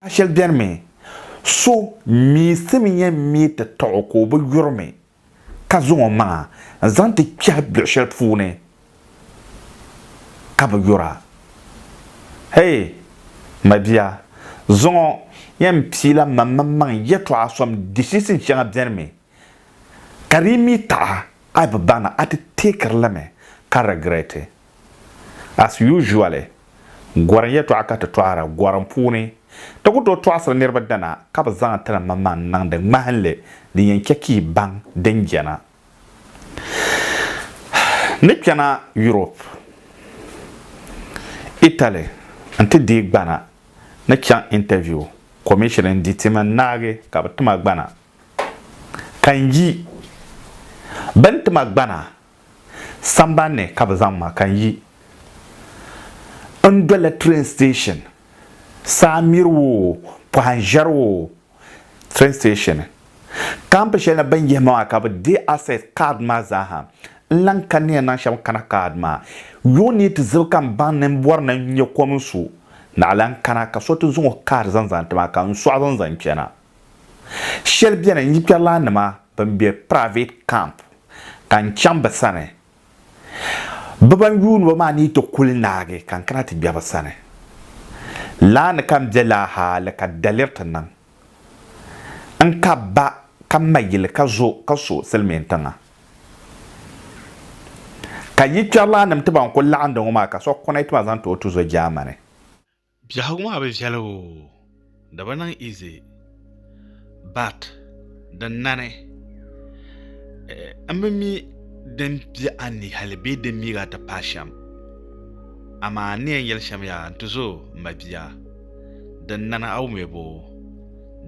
A shɛli beni mi, so miisimiya mii ti taɣ o ka o bi yuri mi, ka zaŋ o maŋa n-zaŋ ti kpɛhi biɛɣ shɛli puuni ka bi yura. Hei! Mabia, zuŋɔ yɛn piila maŋmaŋmaŋ yɛtɔɣa sɔm dihihisim shɛŋa beni mi, ka di yi mii taɣi a bi baŋ na, a ti teekiri li mi ka regret it. As usually, gɔrim yɛtɔɣa ka ti tɔɣira gɔrim puuni. Ti ku tooi tɔɣisiri niriba dana ka bɛ zaŋ ti ni maŋmaŋ n-niŋdi ŋmahinli din yɛn chɛ ka yi baŋ din jɛna ni kpɛna Europe. Italy nti deei gbana ni chaŋ interview commission n-di ti mini naagi ka bɛ ti ma gbana ka n yi. Bɛ ni ti ma gbana Sambani ni ka bɛ zaŋ ma ka n yi. N doli la train station, saa miri o, pɔhim ʒiɛri o, train station. Camp shɛli ni bɛ ni yihi ma maa ka bɛ deei access card maa zaa ha. N lan ka niya naŋ shɛm kana card maa. Yuŋ ni yi ti zibi ka m baŋ ni m bɔri ni n nya kom n su, naɣila n kana ka so ti zaŋ o card zaŋ zani ti ma ka n sɔɣi zaŋ zaŋ chana. Shɛli beni n yi kpɛrilaannima bɛn be private camp ka n chaŋ bɛ sani, bɛ ban yuuni ba maa ni yi ti kuli naagi ka n kana ti gbe bɛ sani. Laa ni ka n be laa hali ka daliri ti niŋ n ka ba ka m ma yili ka zo ka so silimiintiŋa. Ka yi kpɛrilaannim ti ban kuli laɣindi ŋɔ maa ka so kɔnɛti ma zaŋ ti o tuzo Germany. Biɛhigu maa bi viɛli oo, di bi niŋ easy but din nani n bi mi din be a ni hali bee din miigi a ti paai shɛm amaa n ni yɛn yɛli shɛm yaa n ti zo m ma bia din nani a wumya boo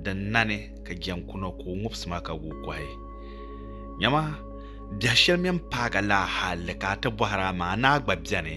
din nani ka jɛn kuna ka o ŋubisi ma ka guui kɔhi nyama biɛhi shɛli mini paaga laa hali ka a ti bɔhira amaa ni a gba beni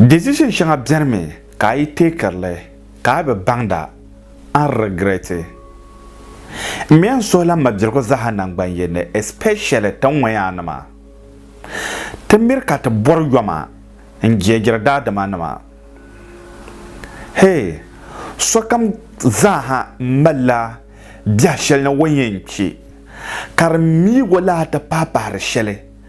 Decision shɛŋa beni mi ka a yi teekirili ka a bi baŋda a ni regret. N mi a ni suhila mabiligu zaaha naŋgbanyen ni especially ti ŋɔyaa nima. Ti miri ka ti bɔri yoma n jeejiri daadama nima. Hee, sokam zaaha malila biɛhi shɛli ni o yɛn che ka di miigo lahi ti pahi pahiri shɛli.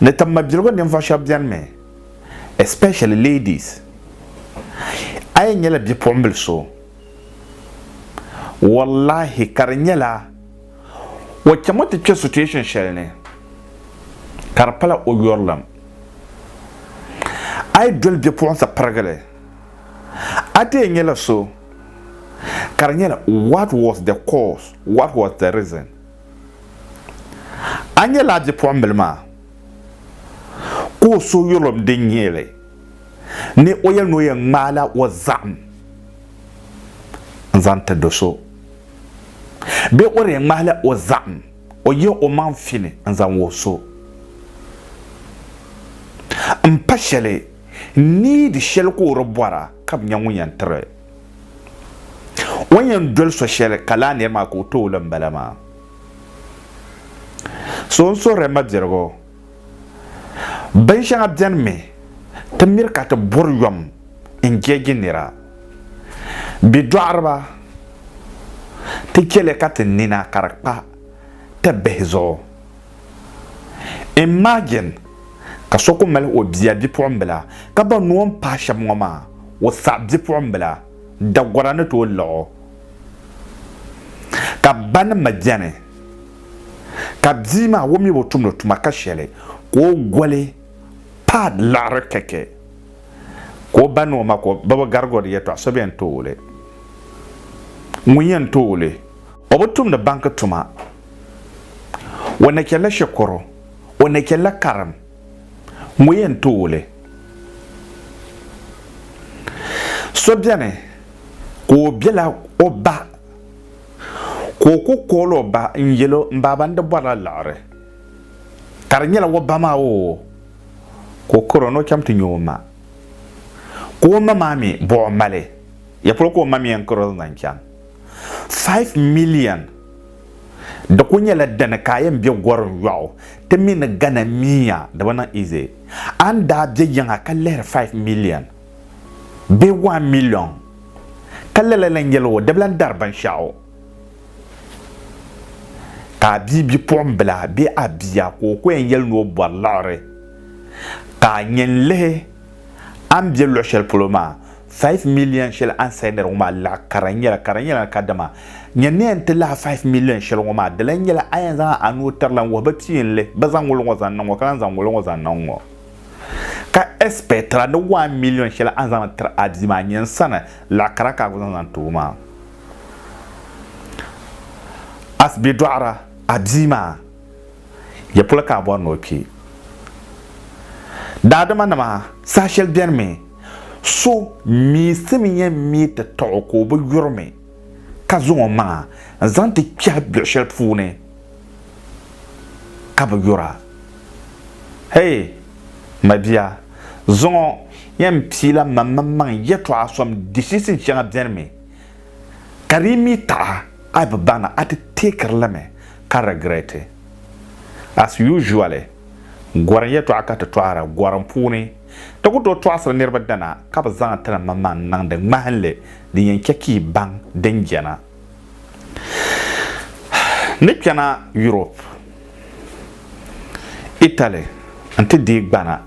Ni tim mabiligu ninvuɣu shɛba beni mi especially ladies a yi nyɛla bipuɣimbili so wallahi ka di nyɛla o chami ti kpe situation shɛli ni ka di pala o yurilim a yi doli bipuɣinsi pirigili a ti yɛn nyɛla so ka di nyɛla what was the cause what was the reason A nyɛla a bipuɣimbila maa ka o suhuyurlim din nyɛ li ni o yɛli ni o yɛn ŋmaala o zahim n-zaŋ ti do so bee o di yɛn ŋmahila o zahim o yihi o maŋ fini n-zaŋ wuhi so m-pa shɛli needi shɛli ka o di bɔra ka bi nya ŋun yɛn tiri O ni yɛn doli so shɛli ka laa niri maa ka o tooi li m-bala maa. So n suhiri ma birigu. Binshɛŋa beni mi ti miri ka ti bɔri yom n jeegi nira. Bɛ dɔɣiriba ti che li ka ti nina ka di kpa ti bihi zuɣu. Imagine ka so ku mali o bia bipuɣimbila ka ba noo n pahi shɛba ŋɔ maa o saɣi bipuɣimbila Dagora ni tooi laɣ o ka ba ni ma beni ka bia maa o mi bi tumdi o tuma ka shɛli ka o goli pad laɣiri kɛkɛ ka o ba ni o ma ka o ba bi garigori yɛtɔɣa so bɛn tooi li ŋun yɛn tooi li O bi tumdi banki tuma. O na chɛlila shɛkuru, o na chɛlila karim, ŋɔ yɛn tooi li. So beni ka o bela o ba ka o kuli kool o ba n-yel o, M baaba n di bɔri la liɣiri, ka di nyɛla o ba maa oo, ka o karo ni o chaŋ ti nya o ma. Ka o ma maa mi bɔh o mali, ya polo ka o ma mi yɛn karo zaŋ chaŋ. 5 million di kuli nyɛla dini ka a yɛn bɛ gorim yɔɣu ti mi ni gana miya di bi niŋ easy a ni daa bɛ yiŋa ka lihiri 5 million bee 1 million ka lala lan yɛli o di bi lan dari binshɛɣu ka a bia bipuɣimbila bee a bia ka o ko yɛn yɛli ni o bɔri liɣiri ka a yɛn lihi A ni be luɣ shɛli polo maa, five million shɛli a ni sayi nɛra ŋɔ maa laɣ kara n-nyɛla, ka di nyɛla ni kadama nya ni a ni ti lahi five million shɛli ŋɔ maa, dala n-nyɛla a yɛn zaŋ a nuu tiri la n-wuhi ba ti yi n lihi ba zaŋ ŋɔlo ŋɔ zaŋ niŋ ŋɔ ka lan zaŋ ŋɔlo ŋɔ zaŋ niŋ ŋɔ, ka ɛspɛɛtira ni one million shɛli a ni zaŋdi tiri a bia maa nyɛ n sani laɣ kara ka a ku zaŋ zaŋ ti o maa. Asibe dɔɣira a bia maa. Ya polo ka a bɔri ni o kpi? Daadimanima, saha shɛli beni mi, so miisimi yɛn mi ti taɣ o ka o bi yuri mi, ka zaŋ o maŋa n-zaŋ ti kpɛhi biɛɣ shɛli puuni ka bi yura. Hei! Mabia, zuŋɔ yɛn piila mam mini maŋ yɛtɔɣa sɔm dishisin shɛŋa beni mi, ka di yi mi taɣi a a bi baŋ ni a ti teekiri li mi. ka regret as usually gorim yɛtɔɣa ka ti tɔɣira gorim puuni ti ku tooi tɔɣisiri niriba dana ka bi zaŋ ti ni ma maŋ niŋdi ŋmahinli din yɛn chɛ ka yi baŋ din jɛna ni kpɛna Europe Italy n-ti deei gbana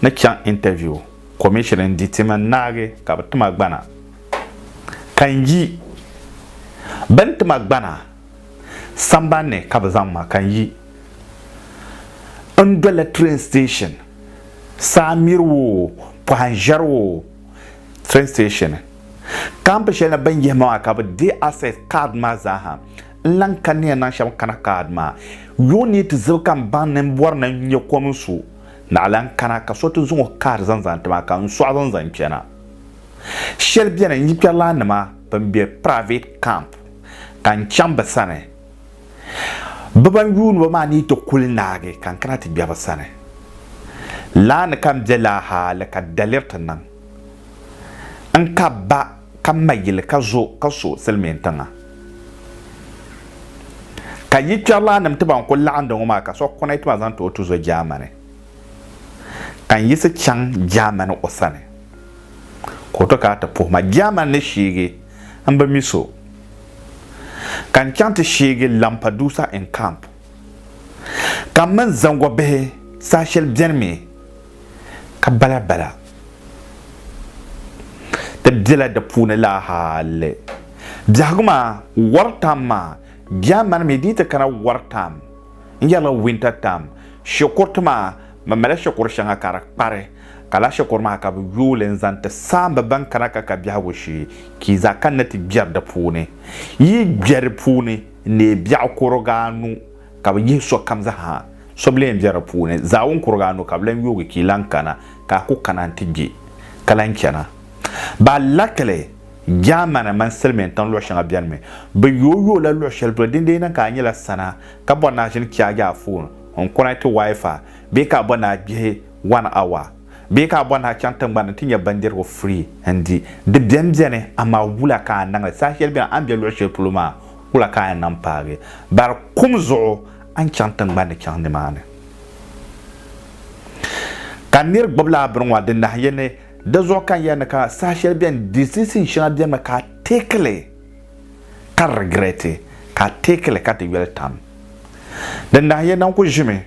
ni chaŋ interview commission n-di ti mini naagi ka bi ti ma gbana ka n yi bɛ ni ti ma gbana Samban ni ka bɛ zaŋ ma ka n yi. N doli train station, saa miri woo, pɔhim ʒiɛri woo, train station. Kampi shɛli ni bɛ ni yihi ma maa ka bɛ deei access card maa zaaha. N lan ka niya naŋ shɛm kana card maa. Yuŋ ni yi ti zibi ka m baŋ ni m bɔri ni n nya kom n su, naɣ lan kana ka so ti zaŋ o card zaŋ zani ti ma ka n sɔɣi zaŋ zani kpɛna. Shɛli beni n yi kpɛrilannima bɛn be private camp. ka n chaŋ bɛ sani. Bɛ ban yuuni ba maa ni yi ti kul naagi ka n kana ti gbe bɛ sani. Laa ni ka n be laa hali ka daliri ti niŋ n ka ba ka m ma yili ka zo ka so silimiintiŋa. Ka yi kpɛrilaannim ti ban kul laɣindi ŋɔ maa ka so kɔnɛ ti ma zaŋ ti o tuzo Jaamani. Ka n yiɣisi chaŋ Jaamani o sani ka o ti kana ti puhi ma. Jaamani ni sheegi N bi mi so, ka n chaŋ ti sheegi Lampedusa in camp, ka m mini zaŋgɔ bihi saha shɛli beni mi ka bala bala. Ti bela di puuni laa hali biɛhigu maa war tam maa bia mani mi dii ti kana war tam n yɛrila winter tam shikuru ti maa mi mali shikuru shɛŋa ka di kpari Ka lahi shikuru maa ka bɛ yooi li n-zaŋ ti saamba ban kana ka ka biɛhigu shee, ka yi zaa kanna ti gbɛri di puuni. Yi gbɛri puuni n-neei biɛɣu kuriga anu, ka bɛ yihi sokam zaa so bi leen be di puuni. Zaawun kuriga anu ka bɛ lan yoogi ka yi lan kana, ka a ku kana nti gbe, ka lan chana. Bɛ alakili, Jaamani mini Silimiintiŋ luɣ shɛŋa beni mi. Bɛ yooi yooi la luɣ shɛli polo, dindee niŋ ka a nyɛla sana, ka bɔri ni a ʒini chaagi a foon, n-kuri a ti Wi-Fi, bee ka a bɔri ni a kpihi one hour bee ka a bɔri ni a chaŋ tiŋgbani n-ti nya bindirigu free n-di. Di beni beni amaa wula ka a niŋli? Saha shɛli beni a ni be luɣ shɛli polo maa wula ka a yɛn niŋ paagi? Bari kum zuɣu a ni chaŋ tiŋgbani ni chaŋ nimaani. Ka nir gbubi laa bini ŋɔ di nahi ya ni di zuɣu ka n yɛli ni ka saha shɛli beni decision shɛŋa benimi ka a take li ka regret, ka a take li ka di yoli tam. Di nahi ya ni n kuli ʒimi.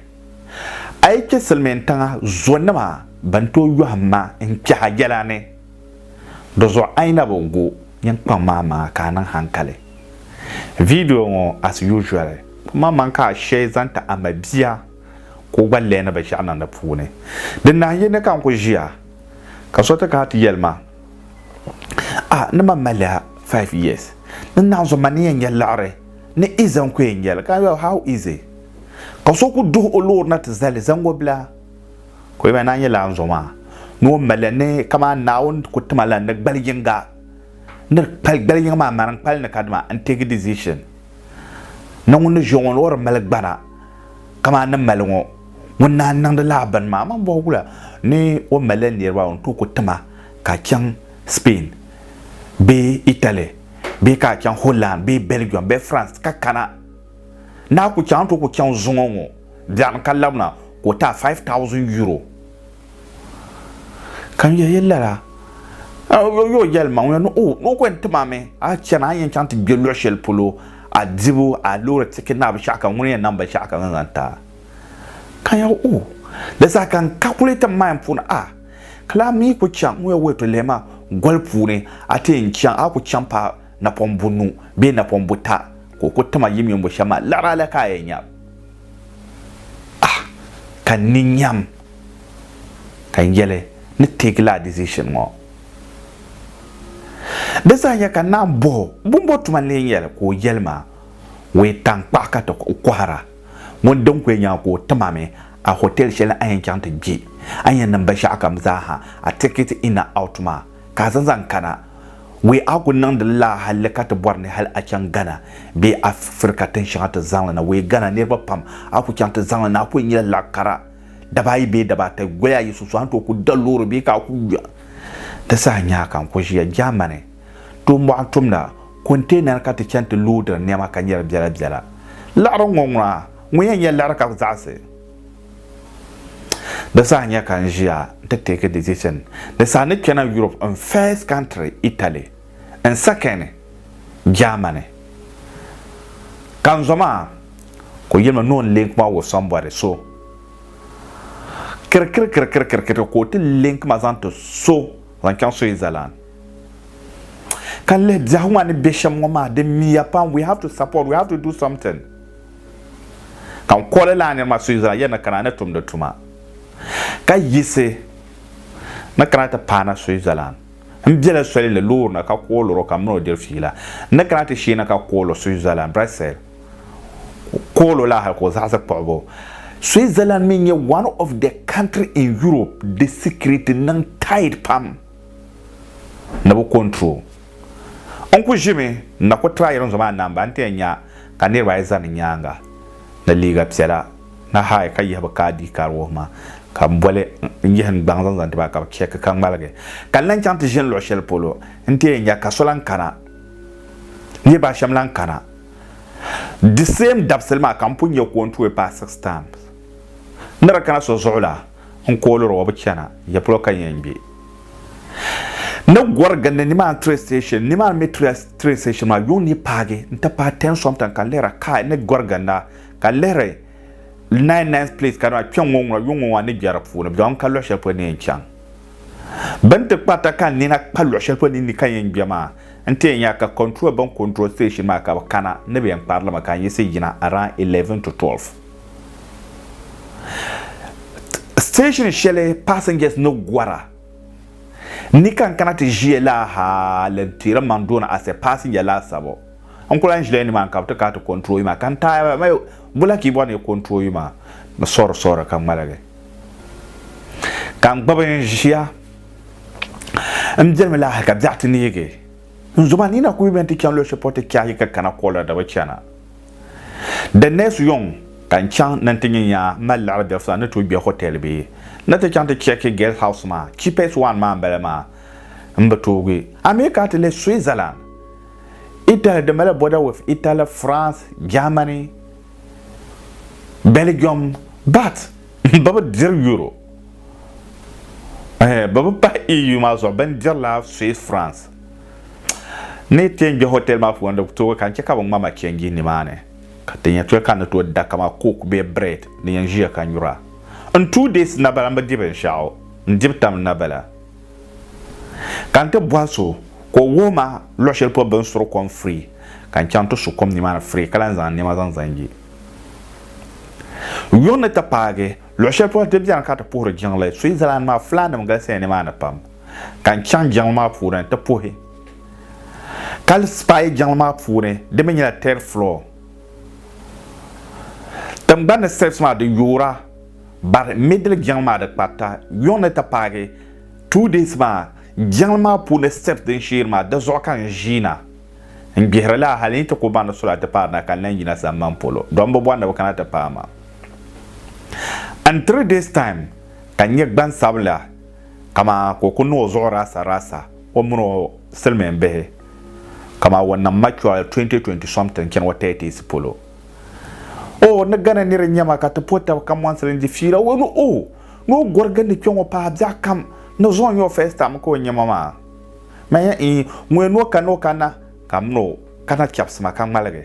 A yi chɛ silimiintiŋa zonima bɛn tooi yɔhim ma n-kpɛha yɛla ni, di zuɣu a yi na bi gu ninkpaŋ maa maŋa ka a niŋ hankali. Video ŋɔ as usual ku maŋmaŋ ka a shee zaŋ ti a ma bia ka o gba leei ni binshɛɣu niŋ di puuni. Di nahin yi ni ka n ku ʒiya ka so ti kana ti yɛli ma, A, ni ma mali ya five years, ni naanzu ma ni yɛn nya liɣiri. Ni i zaŋ kuyɛ nyɛli ka yo how easy ka so ku duhi o loori na ti zali zaŋgo bila ka o yɛba naa nyɛla n zo maa ni o mali ni kaman Naawuni ku tima la ni gbali yiŋga ni di kpali gbali yiŋga maa mani n kpali ni kadima n take decision ni ŋun ni ʒiya ŋɔ ni o di mali gbana kaman ni mali ŋɔ ŋun naan niŋdi lala bini maa man bɔhi wula ni o mali niriba n tooi ku tima ka chaŋ Spain bee Italy. bee ka a chaŋ Holland bee Belgium bee France ka kana, ni a ku chaŋ a ni tooi ku chaŋ zuŋɔ ŋɔ biɛɣuni ka labina ka o ti a five thousand euro. Ka n yɛli ya lala, yo o yɛli ma ŋun ya ni oh ni o ku yɛn ti ma mi, a yi chana a ni yɛn chaŋ ti gbe luɣ shɛli polo a dibu a loori ticket ni a binshɛɣu kam ŋuni n yɛn niŋ binshɛɣu kam zaŋ ti a. Ka n yɛli oh di zaa ka n calculate n mind puuni ah. Ka laa mi ku chaŋ ŋun yɛn wuhi to lɛm maa goli puuni, a ti yɛn chaŋ, a ku chaŋ paai napɔŋ bunu bee napɔŋ buta ka o ku tim a yim yombo shɛm maa, liɣiri a la ka a yɛn nya a ka n ni nyam ka n yɛli ni take laa decision ŋɔ. Di saha ka n naan bɔh o, Bumbo tuma n lee nyɛli ka o yɛli ma, Wee taŋkpaɣu ka ti kohira. Ŋun di n-kuya nya ka o tim a mi a hotel shɛli a yɛn chaŋ ti kpi, a ni yɛn niŋ binshɛɣukam zaa ha a ticket in and out maa ka a zaŋ zaŋ kana. Wee a ku niŋdi li laa halli ka ti bɔri ni hal a chaŋ Ghana bee Afirika tin shɛŋa ti zaŋ li na. Wee Ghana niriba pam a ku chaŋ ti zaŋ li na a ku yɛn nyɛla laɣ kara daba ayi bee daba ata goli ayi sunsuuni a ni tooi ku da loori bee ka a ku gba ti saha nya ka n ku ʒiya Germany. Tooi mɔɣu tumda konteenan ka ti chani ti loodiri nɛma ka nyari biɛla biɛla. Liɣiri ŋɔ ŋuna ŋun yɛn nyɛ liɣiri ka ku zaɣisi? Di saha nya ka n ʒiya nti take decision. Di saha ni kpɛna Europe n first country Italy, n second Germany. Ka n zoma ka o yɛli ma ni o link ma o sambɔri so. Kirikirikirikirikiri ka o ti link ma zaŋ ti so zaŋ chaŋ Switzerland. Ka lihi biɛhigu maa ni be shem ŋɔ maa di miya pam we have to support we have to do something ka n kɔli laa niri maa Susan ya ni kana ni tumdi tuma ka yiɣisi ni kana ti paana Switzerland n bela soli ni loori ni ka kooli o ka mini o diri fiila n ni kana ti sheeni ka kooli o Switzerland Brussels kooli o laa hali ka o zaɣisi kpuɣibu Switzerland mi n-nyɛ one of the country in Europe di security niŋ tight pam ni bi control. N ku ʒimi n na ku try rinzo maa namba n ti yɛn nya ka niriba ayi zani n nyaaŋa ni liiga piɛla ni hi ka yihi bi ka ID card wuhi ma ka m boli n yihi n gbaŋ zaŋ zaŋ ti ba ka bi check ka ŋmaligi. Ka n lan chaŋ ti ʒini luɣ shɛli polo n ti yɛn nya ka so lan kana niriba ashɛm lan kana the same dabisili maa ka m pun nya ka o ni tooi paai six times ni di kana so zuɣu la. n kooliri o bi chana ya polo ka yɛn gbe ni gɔri gindi nimaani train station nimaani mi train station maa yuŋ ni paagi n ti paai ten something ka lihira kai ni gɔri ginda ka lihiri nine nine place ka dama kpɛŋ ŋɔ ŋuna yuŋ ŋɔ maa ni bɛ di puuni bi zaŋ ka luɣi shɛli polo ni yɛn chaŋ bin ti kparita ka n nina kpa luɣi shɛli polo ni ni ka yɛn gbe maa n ti yɛn nya ka control bin control station maa ka bi kana ni bi yɛn kpari li mi ka n yiɣisi yina around eleven to twelve Station shɛli passengers ni gɔra ni ka n kana ti ʒiya la ha li n teeri maŋ doona as a passenger laasabu n kuli lan ʒila ni maa ka bi ti kana ti control ma ka n taai ma bula kii bɔri ni control ma ni sɔri sɔri ka ŋmaligi ka n gbubi n ʒiya n biɛlimi la ha ka biɛɣu ti neegi n zoma ni na kuli yuli bɛni ti chani luɣu shɛli polo ti kpɛhi yi ka kana kɔla da bi chana Di next yɔŋ ka n chaŋ ni n ti nya yaa mali liɣiri bɛ fla ni tooi gbɛ hotel bee ni ti chaŋ ti check guest house maa cheapest one maa n bala maa n bi toogi a mi ka ti le Switzerland, Italy di mali border with Italy, France, Germany, Belgium but bɛ bi diri Euro eh bɛ bi pahi EU maa zuɣu bɛ ni dirila Swiss France. Ni ti kpɛ hotel maa puuni di toogi ka n chɛ ka bɛ ŋma ma change nimaani ka ti nya toli ka n ni tooi da kaman coke bee bread ni yɛn ʒiya ka nyura. N two days n na bala m bi di binshɛɣu, n dibu tam n na bala. Ka n ti bɔhi so ka o wuhi ma luɣ shɛli polo bɛ ni suri kom free ka n chaŋ ti su kom nimaani free ka lahi zaŋ nɛma zaŋ zaŋ ye. Yuŋ ni ti paagi luɣ shɛli polo di beni ka ti puhiri jiŋli, Switzerland maa fulaannim galisiya nimaani pam. ka n chaŋ jiŋli maa puuni ti puhi ka spy jiŋli maa puuni di mi nyɛla third floor tingbani ni steps maa di yoora but middle jiŋli maa di kparita yuŋ ni ti paagi two days maa jiŋli maa puuni steps din sheeri maa di zuɣu ka n ʒiina n gbihiri laa hali n ti ku baŋ ni sula ti paari na ka n lan yina samban polo don bi bɔri ni bi kana ti paai ma in three days time ka n nyɛ gbansabila Kamaa ka o ku niŋ o zuɣu raasa raasa o mini o silimiin bihi kamaa wan nam mature 2020 something chani o 30s polo oh ni Ghana niri n nyɛma ka ti po tab ka mɔnsili n di fiila oh ni oh ni o gɔri gindi kpɛ ŋɔ paai biɛɣu kam ni zuɣu n nyɛ o first time ka o nyɛma maa manya ii ŋun yɛn ni o kana o kana ka m ni o kana chɛbisima ka ŋmaligi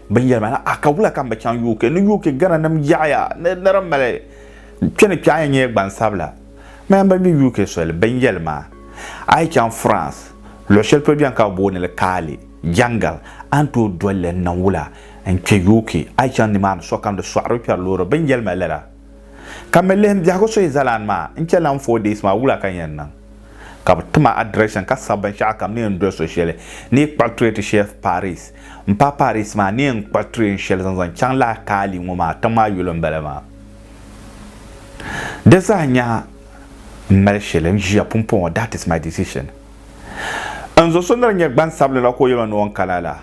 Bɛ yɛli ma ni, A ka wula ka m bi chaŋ UK? Ni UK Ghananim yaɣiya ni di mali kpe ni kpe a ni nyɛ gbansabila? Mayɛn ban be UK soli bɛn yɛli ma, A yi chaŋ France, luɣ shɛli polo beni ka bɛ booni li Kaali, Jangal, a ni tooi doli li n-niŋ wula n-kpe UK? A yi chaŋ nimaani, sokam di sɔɣiri o kpɛri loori. Bɛ ni yɛli ma lala. Ka me lihim biɛhigu suhi zalaan maa n-chɛ lan four days maa wula ka n yɛn niŋ? Ka bɛ ti ma address ka sabi binshɛɣu kam ni yɛn doli so shɛli ni yi kpuɣi tray ti Chef Paris. M paɣ Paris maa ni yɛn kpuɣi tray n shɛli zaŋ zaŋ chaŋ lahi kaali ŋɔ maa tiŋ maa yolo m-bala maa. Di zaa nyaha m mali shɛli n ʒiya pumpɔŋɔ that is my decision. N zo so ni di nyɛ gbansabili la ka o yɛl ma ni o ni kana la.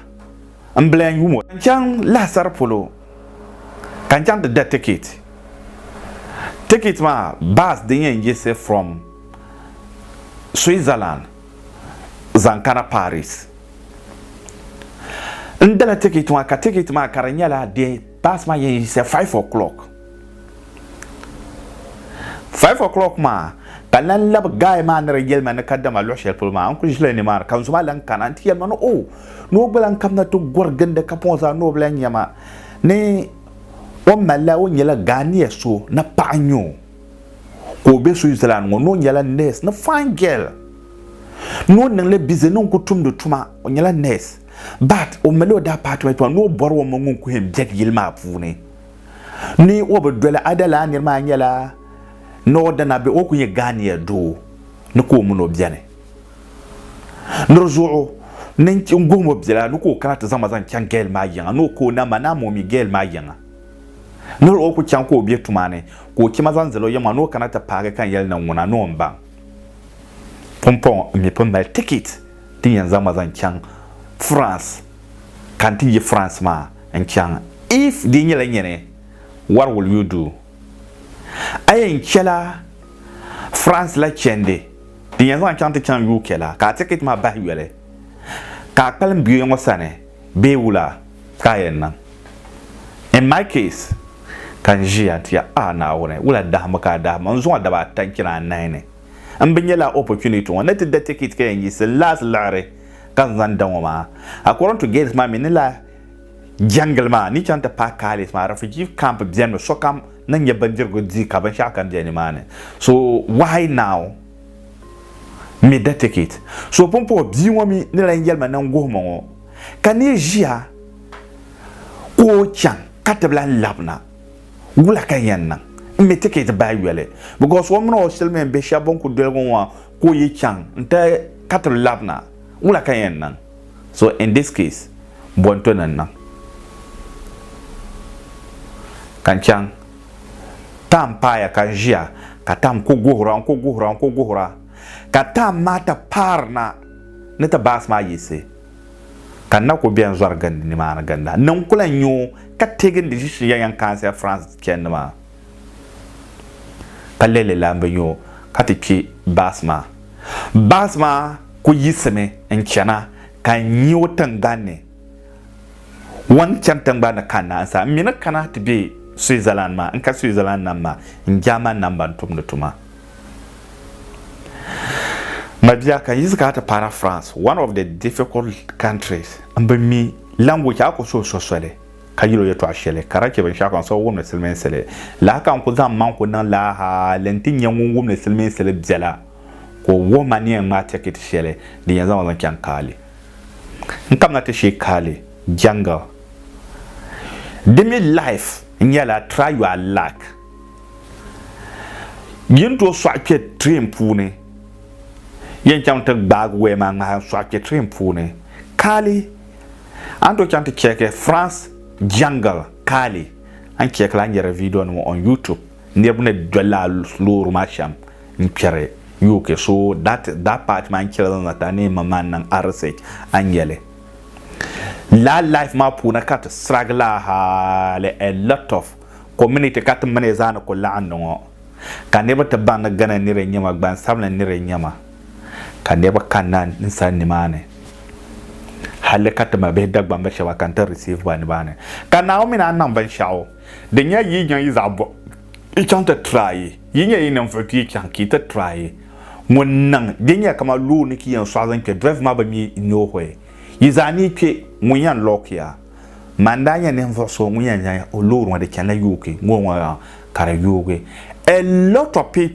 n bla n yum o. N chaŋ lahasari polo ka n chaŋ ti da ticket. Ticket maa bus din yɛn yiɣisi from Switzerland zaŋ kana Paris. N dala ticket maa ka ticket maa ka di nyɛla di bus maa yɛn yiɣisi five o'clock. Five o'clock maa ka n lan labi guy maa ni di yɛli ma ni kadama luɣ shɛli polo maa n kuli ʒila nimaani ka n zumaa lan kana nti yɛli ma ni o ni o gba lan kabina ti gɔri gindi kapɔŋ zaa ni o bi lan nya ma ni o malila o nyɛla Ghanea so ni paɣa n-nyɛ o ka o be Switzerland ŋɔ ni o nyɛla nurse ni fine girl ni o niŋ li busy ni n ku tumdi tuma o nyɛla nurse but o mali o department maa ni o bɔri o mini ŋun kuhi n biɛg yili maa puuni ni o bi doli Ada laa nir maa nyɛla ni o dana bee o ku nyɛ Ghania doo ni ka o min o beni. Nir zuɣu ni n guhim o bela ni ka o kana ti zaŋ ma zaŋ chaŋ Gail maa yiŋa ni o ka o na ma ni a ma o mi Gail maa yiŋa. Nir o ku chaŋ ka o be tuma ni ka o chɛ ma zaŋ zali o yiŋa ni o kana ti paagi ka n yɛli ni ŋuna ni o ni baŋ pumpɔŋɔ n mi pun mali tikit. ti yɛn zaŋ ma zaŋ chaŋ France ka n ti yi France maa n chaŋ if di nyɛla nyini what will you do? A yɛn chɛla France la chɛndi din yɛn zaŋ chaŋ ti chaŋ UK la ka a ticket maa bahi yoli ka a kpalim bia ŋɔ sani bee wula ka a yɛn niŋ? In my case ka n ʒiya n ti yɛli a Naawuni wula dahimbu ka a dahim ma n zuŋɔ daba ata n chani anahi ni. n bi nyɛla opportunity ŋɔ ni ti da ticket ka yɛn yiɣisi last liɣiri ka n zaŋ da ŋɔ maa. According to Gates maa mi ni la jɛngili maa ni chaŋ ti paai Kalis maa refugee camp beni mi sokam ni nyɛ bindirigu di ka binshɛɣu kam bɛ nimaani so why now n mi da ticket so pumpɔŋɔ bia ŋɔ mi ni lan yɛlima ni n guhi ma ŋɔ ka ni ʒiya ka o chaŋ ka ti bi lan labina. Wula ka n yɛn niŋ n mi tikɛt bahi yoli? Bikɔs o mini o silimiin bihi shɛba bɛn ku doligu ŋɔ ka o yi chaŋ nti ka ti labina, wula ka n yɛn niŋ? So in this case, bɔnto ni n niŋ ka n chaŋ Tam paaya ka n ʒiya ka Tam ku guhira, n ku guhira, n ku guhira ka Tam maa ti paari na ni ti baasi maa yiɣisi. ka na ku bɛn zɔri gindi nimaani ginda ni n ku lan nya o ka teegi n di ʒishi ya yɛn kaansi ya France chɛndi maa. Ka lɛli lan bi nya o ka ti kpi baasi maa. Baasi maa ku yiɣisimi n-chana ka n nya o tiŋgbani ni. O ni chani tiŋgbani ni kanna n sa, m mi ni kana ti be Switzerland maa. N ka Switzerland nam maa, n German nam ba n tumdi tuma. Mabia kan yizi ka ti paana France, one of the difficult countries, n bi mi language a ku suhi so soli ka yil o yɛtɔɣ shɛli ka daa chɛ binshɛɣu ka n siɣi wumdi silimiinsili lahi ka n ku zaŋ mmaŋ ku niŋ laa hali nti nyɛ ŋun wumdi silimiinsili biɛla ka o wuhi ma ni yɛn ŋmaai tɛkiti shɛli din yɛn zaŋ ma zaŋ chaŋ Kali. N kamina ti shee Kali, jungle. Di mi life nyɛla try your luck. Yi ni tooi sɔɣi kpe train puuni, yɛn chaŋ ti gbaagi waya maa ŋmahi n-sɔɣi kpe train puuni Cali. A ni tooi chaŋ ti check France jungle Cali, a ni check li a ni nya di video nima on YouTube. Niriba ni doli la loori maa shɛm n-kpɛri UK. So that that part maa n-chɛ la zaŋ zaŋ ti a ni yɛn maŋ maŋ niŋ a research a ni nya li. Lala life maa puuni ka ti sirigi la hali a lot of community ka ti mini zaa ni ku laɣim ni ŋɔ ka niriba ti baŋ ni Ghana nira n-nyɛ ma, gbansabinli nira n-nyɛ ma ka niriba kanna n sani nimaani halli ka ti ma bihi Dagbamba shɛba ka n-ti receive ba nimaani ka Naawuni mi naan niŋ binshɛɣu din nyɛ yi niŋ yi zaɣ bɔb yi chaŋ ti try yi nyɛ yi ninvuɣ ti yi chaŋ ka yi ti try ŋun niŋ din nyɛ kaman looni ka yi yɛn sɔɣi zaŋ kpe drive maa bi mi noohɔi yi zaa ni yi kpe ŋun yɛn lock ya. Ma n daa nya ninvuɣ so ŋun yɛn zaŋ o loori ŋɔ di chanila yoogi ŋɔ ŋɔ ka di yoogi. A lot of people.